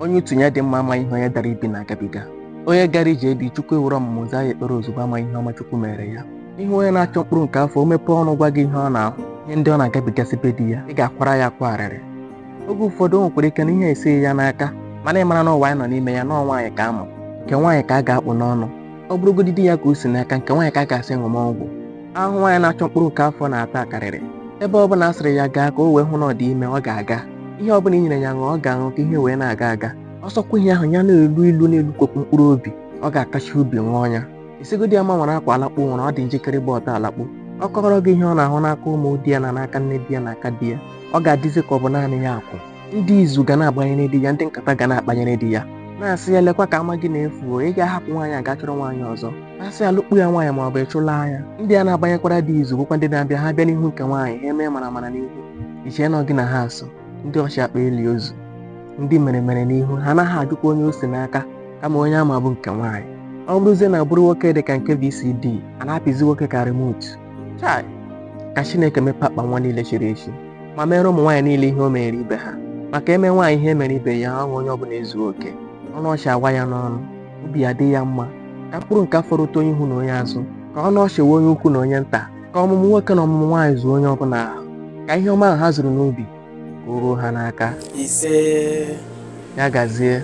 onye utu ya dị mma amaghị ihe onye dara ibi na-agabiga onye gara ije di chukwu ewere ọmụmụ zaa ya ekpere ozugbo amaghị ihe ọma chukwu meere ya ị hụ onye na-achọ mkpụrụ nke afọ o mepee ọnụ gwa gị ihe ọ na-ahụ ihe ndị ọ na-agabigasị be di ya ị ga-akwara ya akwa arịrị oge ụfọdụ o nwekwara ike na ihe esighị ya n'aka mana ị mara na ụwa anyị nọ n'ime ya na ọ nwaanyị ka a ma nke nwaanyị ka a ga-akpụ n'ọnụ ọ bụrụgodị di ya ka o si n'aka nke nwaanyị ka a ga-asị ṅụma ọgwụ ahụhụ nwaanyị na-achọ mkpụrụ nke afọ na-ata akarịrị ebe ọ bụla a sịrị ya gaa ka o wee hụ na ọ dị ime ọ ga-aga ihe ọ bụla i nyere ya ṅụọ ọ ga-aṅụ ka ihe wee na-aga aga ọ sọkwa ihe ahụ ya na-elu ilu na-elukopụ mkpụrụ obi ọ ga-akachi ubi ṅụọ ya ị sịgodi ya ma nwere akwa alakpu nwere ọ dị njikere ịgba ọtọ alakpu ọ kọọrọ gị ihe ọ na-ahụ n'aka ụmụ di ya na n'aka nne di ya na aka di ya ọ ga-adịzi ka ọ bụ naanị ya kwụ ndị izu ga na-agbanyere di ya ndị nkata ga na-akpanyere di ya na-asị ya lekwa ka ama gị na-efu o ị ga-ahapụ nwaanyị a gaa chọrọ nwaanyị ọzọ na-asị ya lụkpu ya nwaanyị ma ọ bụ ị chụlaa ya ndị a na-agbanyekwara di izu bụkwa ndị na-abịa ha bịa n'ihu nke nwaanyị ha emee mara mara n'ihu i chee na gị na ha so ndị ọchị akpa eli ozu ndị mere mere n'ihu ha anaghị ajụkwa onye o si n'aka kama onye a ma bụ nke nwaanyị ọ bụrụzie na bụrụ nwoke dị ka nke VCD a na-apịzi nwoke ka remote chai ka Chineke mepee akpa nwa niile chiri echi ma meere ụmụ nwaanyị niile ihe o meere ibe ha maka e mee nwaanyị ihe e meere ibe ya ọṅụ onye ọbụla ezuo oke ọnụ ọchị awa ya n'ọnụ obi ya dị ya mma ka mkpụrụ nke afọ rute onye ihu na onye azụ ka ọnụ ọchị waa onye ukwu na onye nta ka ọmụmụ nwoke na ọmụmụ nwaanyị zuo onye ọbụla ahụ ka ihe ọma ahụ ha zuru n'obi ka o ruo ha n'aka isee ya gazie